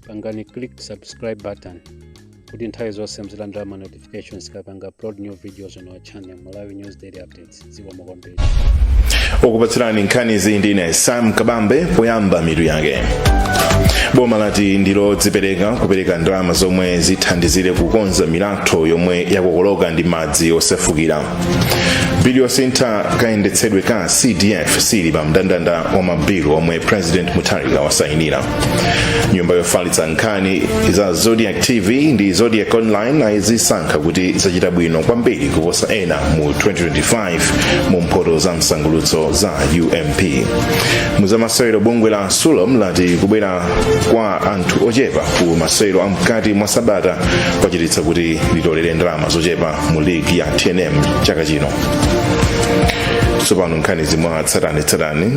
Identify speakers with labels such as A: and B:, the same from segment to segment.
A: pangani click subscribe button kuti nthawi zonse muzilandira ma notifications tikapanga upload new videos on our channel malawi news daily updates dzikomo kwambiri okupatsirani nkhanizi ndine sam kabambe poyamba mitu yake boma lati ndilodzipereka kupereka ndalama zomwe zithandizire kukonza milatho yomwe yakokoloka ndi madzi osefukira bill yosintha kayendetsedwe ka cdf sili pa mndandanda wa mabilu omwe president mutharika wasayinira nyumba yofalitsa nkhani za zodiak tv ndi zodiak online ayizisankha kuti zachita bwino kwambiri kuposa ena mu 2025 mu mphoto za msangulutso za ump muzamasewero bungwe la sulom lati kubwera kwa anthu ochepa ku masewero amkati mwa sabata kwachititsa kuti litolere ndalama zochepa mu ligi ya tnm chaka chino tsopano nkhanizi mwa tsatanetsatane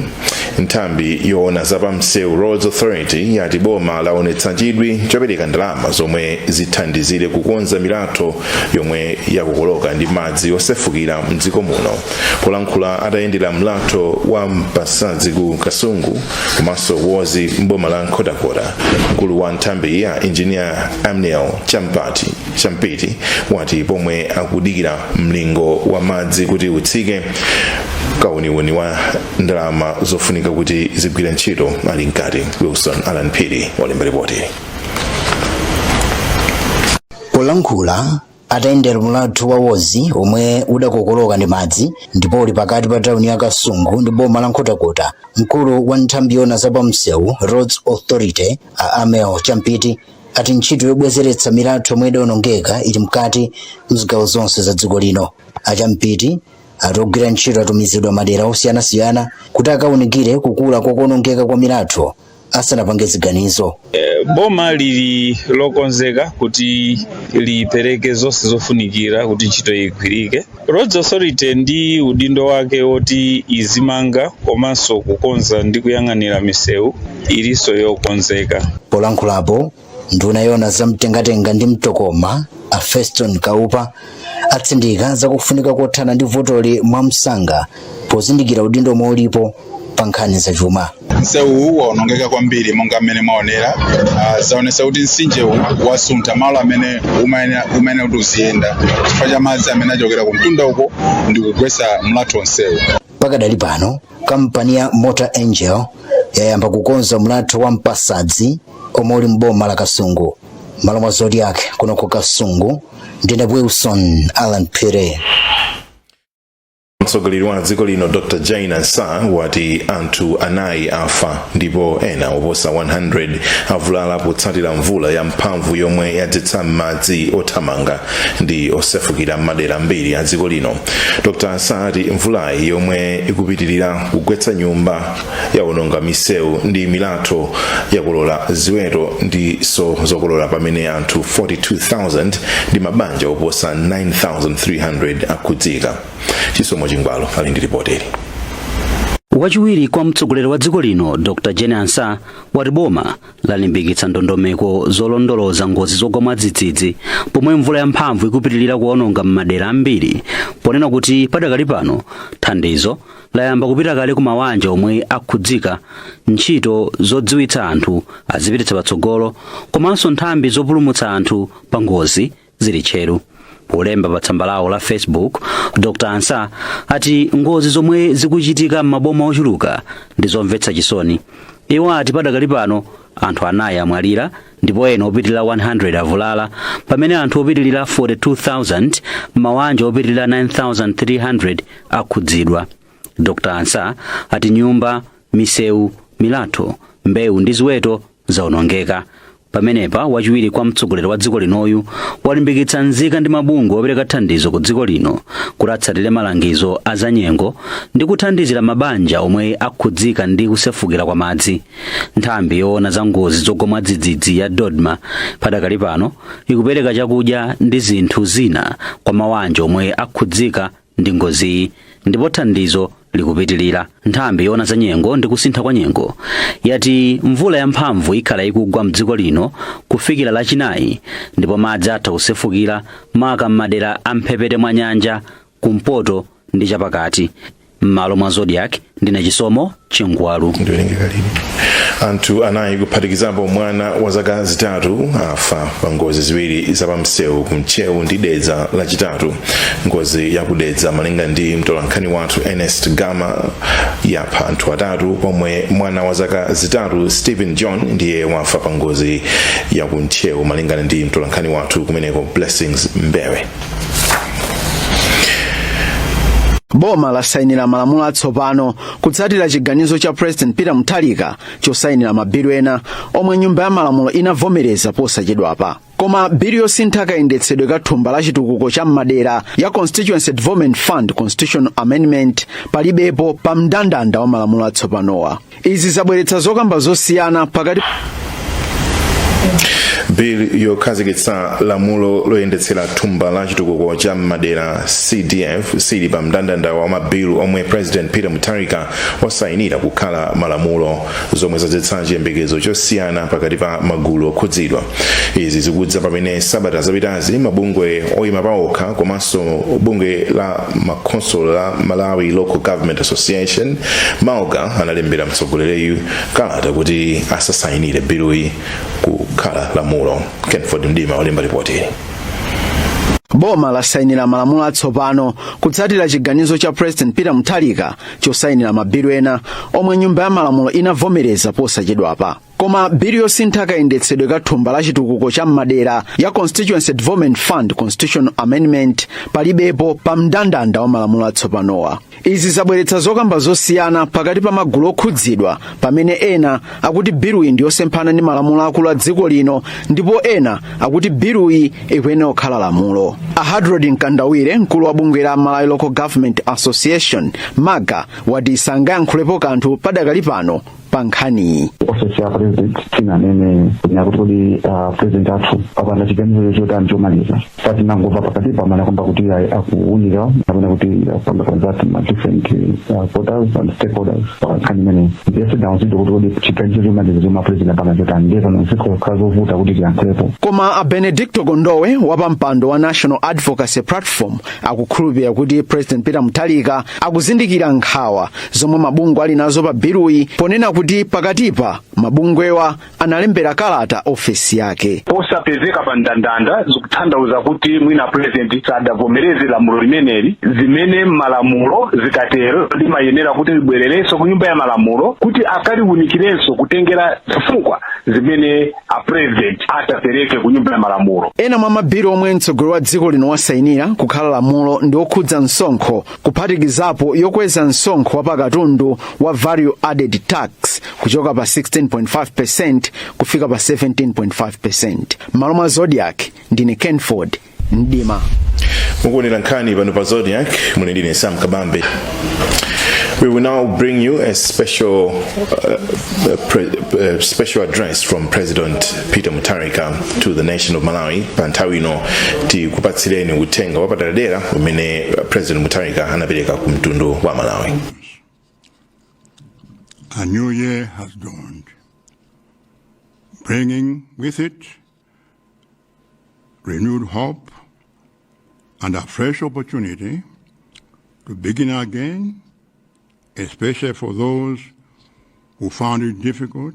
A: nthambi yoona za pamsewu roads authority yati boma laonetsa chidwi chopereka ndalama zomwe zithandizire kukonza milatho yomwe yakokoloka ndi madzi osefukira mdziko muno polankhula atayendera mlatho wa mpasadzi ku kasungu komanso lwozi mboma la nkhotakota mkulu wa nthambiyi a injiniya ammiel champiti champiti wati pomwe akudikira mlingo wa madzi kuti utsike kauniuni wa ndalama zofunika kuti zigwire ntchito ali mkati wilson allan phiri walemba ripoti polankhula atayendera mlatho wa lwozi omwe udakokoloka ndi madzi ndipo uli pakati pa tauni ya kasungu ndi boma la nkhotakota mkulu wa nthambi yoona za pamsewu roads authority a ammiel champiti ati ntchito yobwezeretsa milatho yomwe idawonongeka ili mkati mzigawo zonse za dziko lino a champiti ati ogwira ntchito atumizidwa mmadera osiyanasiyana kuti akawunikire kukula kwa kuwonongeka kwa milatho asanapange ziganizo boma lili lokonzeka kuti lipereke zonse zofunikira kuti ntchito igwirike Roads Authority ndi udindo wake woti izimanga komanso kukonza ndi kuyang'anira misewu ilinso yokonzeka. Polankhulapo, nduna yoona za mtengatenga ndi mtokoma a Feston Kaupa atsindika zakufunika kothana ndi vutoli mwamsanga pozindikira udindo omwe ulipo pa nkhani zachuma msewuwu waonongeka kwambiri monga mmene mwaonera uh, zaonesa kuti mtsinjewu wasuntha malo amene umayenera umayenera kuti uziyenda chifukwa cha madzi amene achokera ku mtunda uko ndi kugwetsa mlatho onsewu pakadali pano kampani ya mota engil yayamba kukonza mlatho wa mpasadzi omwe uli m'boma la kasungu mmalo mwa zodiak kuno ku kasungu ndine wilson allan phiri mtsogoleri wa dziko lino dr jane ansah wati anthu anayi afa ndipo ena oposa 100 avulala potsatira mvula ya mphamvu yomwe yadzetsa madzi othamanga ndi osefukira m'madera ambiri a dziko lino dr ansah ati mvulayi yomwe ikupitirira kugwetsa nyumba yawononga misewu ndi milatho yakokolola ziweto ndinso zokolola pamene anthu 42,000 ndi mabanja oposa 9,300 akhudzika chisomo chingwalu ali ndi lipotili wachiwiri kwa mtsogoleri wa dziko lino dr jane ansah wati boma lalimbikitsa ndondomeko zolondoloza ngozi zogwa mwadzidzidzi pomwe mvula yamphamvu ikupitirira kuwononga m'madera ambiri ponena kuti padakali pano thandizo layamba kupita kale ku mawanja omwe akhudzika ntchito zodziwitsa anthu azipititsa patsogolo komanso nthambi zopulumutsa anthu pa ngozi zili tcheru polemba pa tsamba lawo la facebook dr ansah ati ngozi zomwe zikuchitika m'maboma ochuluka ndi zomvetsa chisoni iwo ati padakali pano anthu anayi amwalira ndipo ena opitilira 100 avulala pamene anthu opitilira 42,000 m'mawanja opitilira 9,300 akhudzidwa dr ansah ati nyumba misewu milatho mbewu ndi ziweto zaonongeka pamenepa wachiwiri kwa mtsogoleri wa dziko linoyu walimbikitsa nzika ndi mabungwe opereka thandizo m'dziko lino kuti atsatire malangizo a zanyengo ndi kuthandizira mabanja omwe akhudzika ndi kusefukira kwa madzi nthambi yoona za ngozi zogwa mwadzidzidzi ya dodma padakali pano ikupereka chakudya ndi zinthu zina kwa mawanja omwe akhudzika ndi ngoziyi ndipo thandizo likupitilira nthambi yoona za nyengo ndi kusintha kwa nyengo yati mvula yamphamvu ikhala ikugwa mdziko lino kufikira lachinayi ndipo madzi atha kusefukira maka m'madera a m'mphepete mwa nyanja kumpoto ndi chapakati m'malo mwa zodiak ndine chisomo chingwalu anthu anayi kuphatikizapo mwana wa zaka zitatu afa pa ngozi ziwiri zapamsewu ku ntcheu ndi dedza lachitatu ngozi ya ku dedza malinga ndi mtolankhani wathu ernest gama yapha anthu atatu pomwe mwana wa zaka zitatu stephen john ndiye wafa pa ngozi ya ku ntcheu malingana ndi mtolankhani wathu kumeneko blessings mbewe boma lasayinira malamulo atsopano kutsatira chiganizo cha president peter mutharika chosayinira mabilu ena omwe nyumba ya malamulo inavomereza posachedwapa koma bilu yosintha kayendetsedwe ka thumba la chitukuko cha m'madera ya constituency development fund constitutional amendment palibepo pa mndandanda wa malamulo atsopanowa izi zabweretsa zokamba zosiyana pakati bill yokhazikitsa lamulo loyendetsera thumba la chitukuko cha m'madera cdf siili pa mndandanda wa mabilu omwe president peter mutharika wasayinira kukhala malamulo zomwe zadzetsa chiyembekezo chosiyana pakati pa magulu okhudzidwa izi zikudza pamene sabata zapitazi mabungwe oyima paokha komanso bungwe la makhonsolo la malawi local government association malga analembera mtsogoleriyu kalata kuti asasayinire biluyi kukhala lamulo kenford mdima walemba ripoti boma lasayinira malamulo atsopano kutsatira chiganizo cha president peter mutharika chosayinira mabilu ena omwe nyumba ya malamulo inavomereza posachedwapa koma bilu yosintha kayendetsedwe ka thumba la chitukuko cha m'madera ya constituency development fund constitutional amendment palibepo pa mndandanda wa malamulo atsopanowa izi zabweretsa zokamba zosiyana pakati pa magulu okhudzidwa pamene ena akuti biluyi ndi yosemphana ndi malamulo akulu a dziko lino ndipo ena akuti biluyi ikuyenera kukhala lamulo a hadrod mkandawire mkulu wa bungwe la malawi local government association malga wati sangayankhulepo kanthu padakali pano pa nkhaniyi ofesi ya president sinanene kunena kuti kodi a president athu apanga chiganizo chotani chomaliza so tinangomva pakatipa anakamba kuti ayi akuunika kapena kuti apanga consult ma different ah, quarters and stakeholders pa nkhani imeneyi ndiye sitidauzidwe kuti kodi chiganizo chomaliza chomwe a president apanga chotani ndiye pano zikhala zovuta kuti tiyankhulepo koma a benedicto kondowe wapampando wa national advocacy platform akukhulupirira kuti president peter mutharika akuzindikira nkhawa zomwe mabungwe ali nazo pa biluyi ponena kuti pakatipa mabungwewa analembera kalata ofesi yake posapezeka pa mndandanda zikutanthauza kuti mwina a purezidenti sadavomereze lamulo limeneli zimene malamulo zikatero limayenera kuti libwererenso ku nyumba ya malamulo kuti akaliunikirenso kutengera zifukwa zimene a purezidenti atapereke ku nyumba ya malamulo ena mwa mabilu omwe mtsogoleri wa dziko lino wasainira kukhala lamulo ndi okhudza msonkho kuphatikizapo yokweza msonkho wa pakatundu wa value added tax kuchoka pa 16.5% kufika pa 17.5% m'malo mwa zodiak ndine kenford mdima mukuonera nkhani pano pa zodiak muli ndi ine sam kabambe We will now bring you a special, uh, uh, pre- uh, special address from President peter mutharika to the nation of malawi pa nthawi ino tikupatsireni uthenga wapaderadera umene president mutharika anapereka ku mtundu wa malawi A new year has dawned, bringing with it renewed hope and a fresh opportunity to begin again, especially for those who found it difficult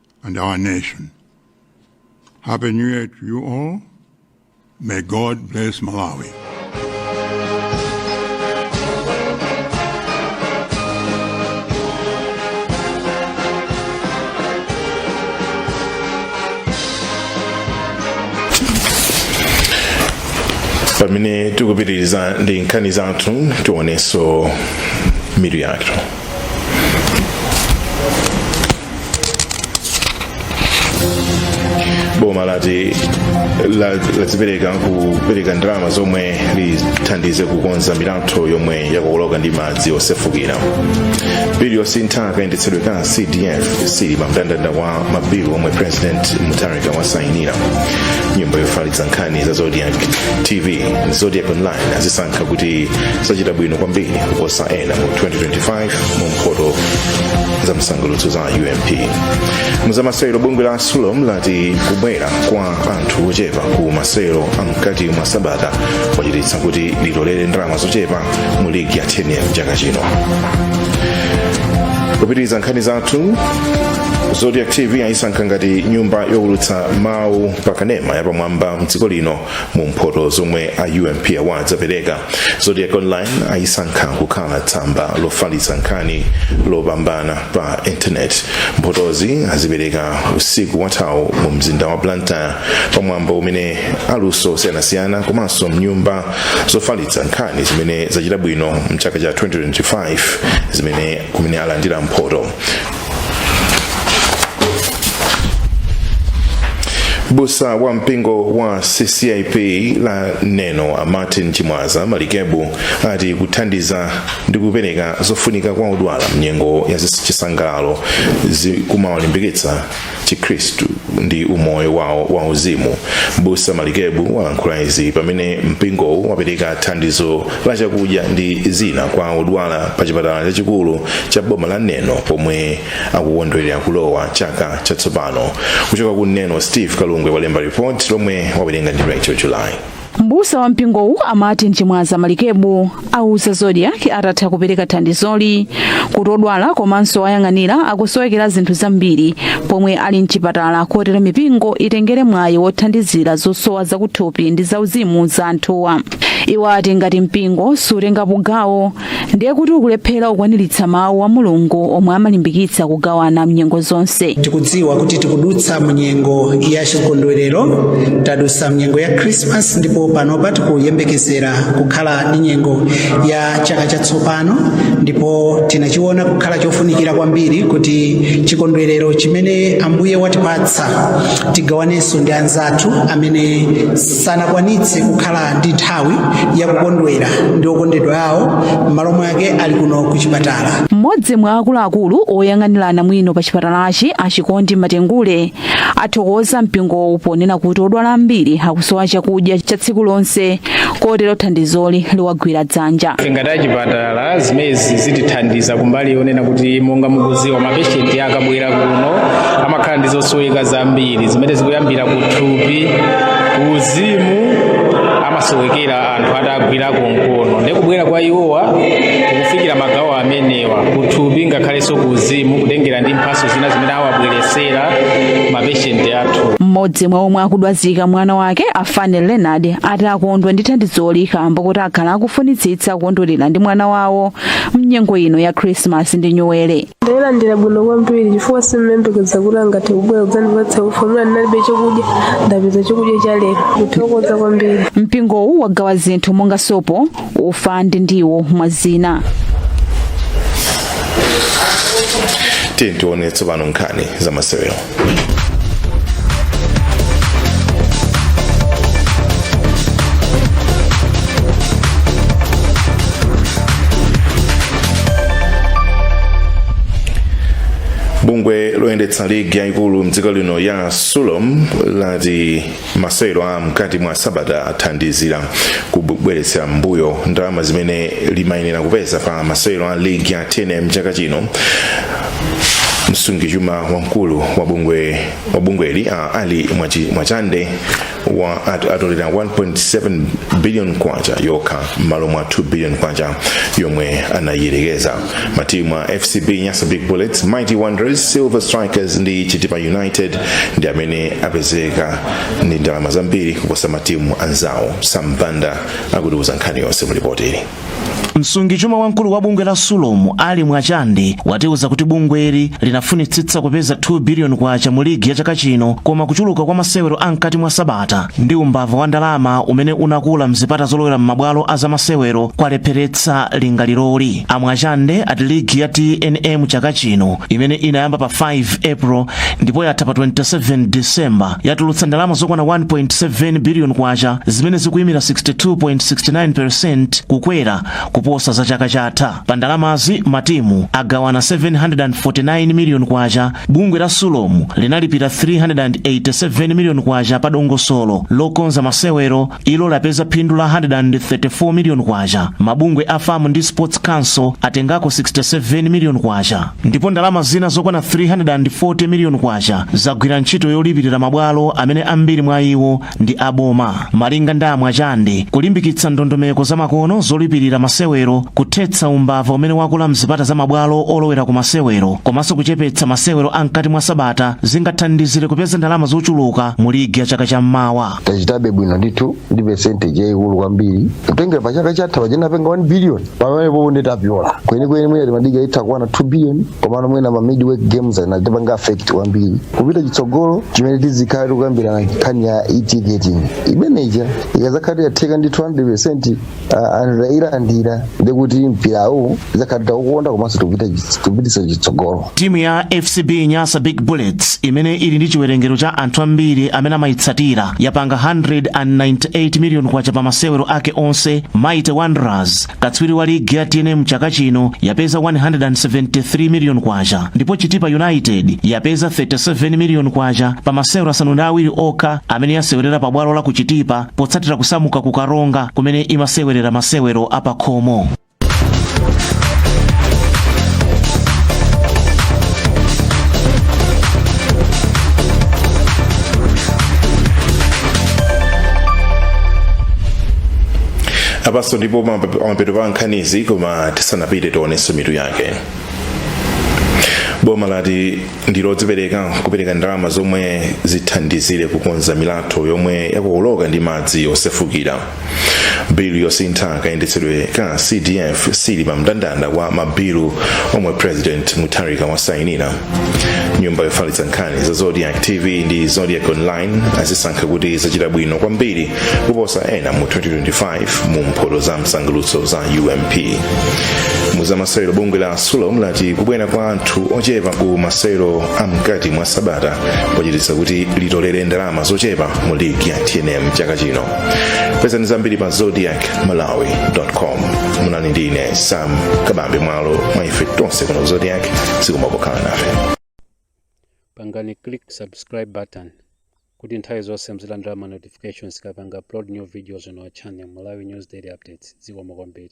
A: and our nation. Happy New Year to you all. May God bless Malawi. pamene tikupitiriza ndi nkhani zathu tionenso mitu yathu boma lati la- lazipereka kupereka ndalama zomwe lithandize kukonza milatho yomwe yakokoloka ndi madzi osefukira bilu yosintha kayendetsedwe ka cdf sili pa mndandanda wa mabilu omwe president mutarika wasayinira nyumba yofalitsa nkhani za zodiak tv zodiak online azisankha kuti zachita bwino kwambiri kuposa ena mu 2025 mu mphoto za msangulutso za ump muzamasewero bungwe la sulom lati kubwera kwa anthu ochepa ku masewero amkati mwa sabata kwachititsa kuti litolere ndalama zochepa mu ligi ya tnm chaka chino kupitiriza nkhani zathu zodiak tv ayisankha ngati nyumba yowulutsa mawu pakanema yapamwamba mdziko lino mu mphoto zomwe a UMP awards apereka zodiak online ayisankha kukhala tsamba lofalitsa nkhani lopambana pa intaneti mphotozi azipereka usiku wathawu mu mzinda wa blantyre pamwambo umene aluso osiyanasiyana komanso nyumba zofalitsa nkhani zimene zachita bwino mchaka cha 2025 zimene kumene alandira mphoto mbusa wa mpingo wa ccap wa neno a martin chimwaza malikebu ati kuthandiza ndi kupereka zofunika kwa odwala mnyengo ya chisangalalo zikumawalimbikitsa chikhristu ndi umoyo wawo wa uzimu mbusa malikebu walankhula izi pamene mpingowu wapereka thandizo la chakudya ndi zina kwa odwala pa chipatala chachikulu cha boma la neno pomwe akukondwerera kulowa chaka chatsopano kuchoka ku neno steve kalungwe walemba report lomwe wawerenga ndi rachel july Mbusa wa mpingowu a Martin Chimwaza Malikebu auza Zodiak atatha kupereka thandizoli kuti odwala komanso owayang'anira akusowekera zinthu zambiri pomwe ali mchipatala kotero mipingo itengere mwayi wothandizira zosowa zakuthupi ndi zauzimu za anthuwa. Iwo ati ngati mpingo sutengapo gawo ndiye kuti ukulephera kukwaniritsa mawu a mulungu omwe amalimbikitsa kugawana mnyengo zonse tikudziwa kuti tikudutsa munyengo ya chikondwerero tadutsa munyengo ya krismas ndipo panopa tikuyembekezera kukhala ndi nyengo ya chaka chatsopano ndipo tinachiona kukhala chofunikira kwambiri kuti chikondwerero chimene ambuye watipatsa tigawanenso ndi anzathu amene sanakwanitse kukhala ndi nthawi yakukondwera ndi okondedwa awo m'malo mwake ali kuno ku chipatala mmodzi mwa akuluakulu oyang'anira anamwino pa chipatalachi a chikondi matengule athokoza mpingowu ponena kuti odwala ambiri akusowa chakudya cha tsiku lonse kotero thandizoli liwagwira dzanja ngati achipat Ala, zimenezi zitithandiza kumbali yonena kuti monga mukuziwa mapeshenti akabwera kuno amakhala ndi zosoweka zambiri zimene zikuyambira ku thupi uzimu amasowekera anthu atagwirako mkono ndi kubwera kwa iwowa kukufikira magawo amenewa kuthupi ngakhalenso ku uzimu kutengera ndi mphaso zina zimene awabweresera mapeshenti athu mmodzi mwa omwe akudwazika mwana wake a fane leonard ati akondwa ndi thandizoli kamba kuti akhala akufunitsitsa kukondwerera ndi mwana wawo mnyengo ino ya khrisimasi ndi nyuwere ndalilandira bwino kwambiri chifukwa sindimayembekeza kuti angathe kubwera kudzandipatsa ufa mwana ndinalibe chakudya ndapeza chakudya cha lero ndithokoza kwambiri mpingowu wagawa zinthu monga sopo ufa ndi ndiwo mwa zina tiye tione tsopano nkhani za masewero bungwe loyendetsa ligi yayikulu mdziko lino la sulom lati Masewero a mkati mwa sabata athandizira kubweretsera m'mbuyo ndalama zimene limayenera kupeza pa masewero a ligi ya tnm chaka chino msungichuma wamkulu wa bungweli a Alli Mwachande wati atolera 1.7 billion kwacha yokha m'malo mwa 2 billion kwacha yomwe anayiyerekeza matimu a fcb nyasa big bullets mighty wanderers silver strikers ndi chitipa united ndi amene apezeka ndi ndalama zambiri kuposa matimu anzawo sambanda akutiuza nkhani yonse mu lipoti ili msungichuma wamkulu wa bungwe la sulomu ali mwachande watiuza kuti bungweli linafunitsitsa kupeza 2 biliyoni kwacha mu ligi ya chaka chino koma kuchuluka kwa masewero a mkati mwa sabata ndi umbava wa ndalama umene unakula mzipata zolowera m'mabwalo a zamasewero kwalepheretsa kukwaniritsa lingaliroli. A Mwachande ati ligi ya tnm chaka chino imene inayamba pa 5 April ndipo yatha pa 27 December yatulutsa ndalama zokwana 1.7 billion kwacha zimene zikuyimira 62.69% kukwera kuposa za chaka chatha. Pa ndalamazi matimu agawana 749 million kwacha, bungwe la Sulom linalipira 387 million kwacha pa dongosolo lokonza masewero ilo lapeza phindu la 134 miliyoni kwacha mabungwe a fam ndi sports council atengako 67 miliyoni kwacha ndipo ndalama zina zokwana 340 miliyoni kwacha zagwira ntchito yolipirira mabwalo amene ambiri mwa iwo ndi aboma malinga ndi amwachande kulimbikitsa ndondomeko zamakono zolipirira masewero kuthetsa umbava umene wakula mzipata za mabwalo olowera ku masewero komanso kuchepetsa masewero a mkati mwa sabata zingathandizire kupeza ndalama zochuluka mu ligi ya chaka cha mmawa tachitabe bwino ndithu ndi percentage yayikulu kwambiri kutengera pa chaka chatha tinapanga 1 billion pamenepopo ndiye tapyola kwenikweni mwina timadiga itha kukwana 2 billion komano mwina ma midweek games anatipanga affect kwambiri kupita chitsogolo chimene tizikhala tikukambirana nkhani ya e-ticketing imeneja ikazakhala tiyatheka ndi 200 Ah, anthu tayilandira ndi kuti mpirawu tidzakhala titaukonda komanso tikupita- tikupititsa chitsogolo timu ya fcb nyasa big bullets imene ili ndi chiwerengero cha anthu ambiri amene amayitsatira yapanga 198 miliyoni kwacha pa masewero ake onse mighty wanderers katswiri wa ligi ya tnm chaka chino yapeza 173 miliyoni kwacha ndipo chitipa united yapeza 37 miliyoni kwacha pa masewero asanu ndi awiri okha amene yasewerera pa bwalo la ku chitipa potsatira kusamuka ku Karonga kumene imasewerera masewero apakhomo. apanso ndipo map- mapeto pa nkhanizi koma tisanapite tionenso mitu yake boma lati ndi lodzipereka kupereka ndalama zomwe zithandizire kukonza milatho yomwe yakokoloka ndi madzi osefukira bilu yosintha kayendetsedwe ka cdf sili pa mndandanda wa mabilu omwe president mutharika wasainira nyumba yofalitsa nkhani ya zodiak tv ndi zodiak online azisankha kuti zachita bwino kwambiri kuposa ena mu 2025 mu mphoto za msangulutso za ump mu zamasewero bungwe la sulom lati kubwera kwa anthu ochepa ku masewero a mkati mwa sabata kwachititsa kuti litolere ndalama zochepa mu ligi ya tnm chaka chino pezani zambiri pa zodiak malawi com munali ndi ine sam kabambe mmalo mwa ife tonse kuno ku zodiak zikomo pokhala nafe pangani click subscribe button kuti nthawi zonse muzilandira ma notifications tikapanga upload new videos on our channel malawi news daily updates zikomo kwambiri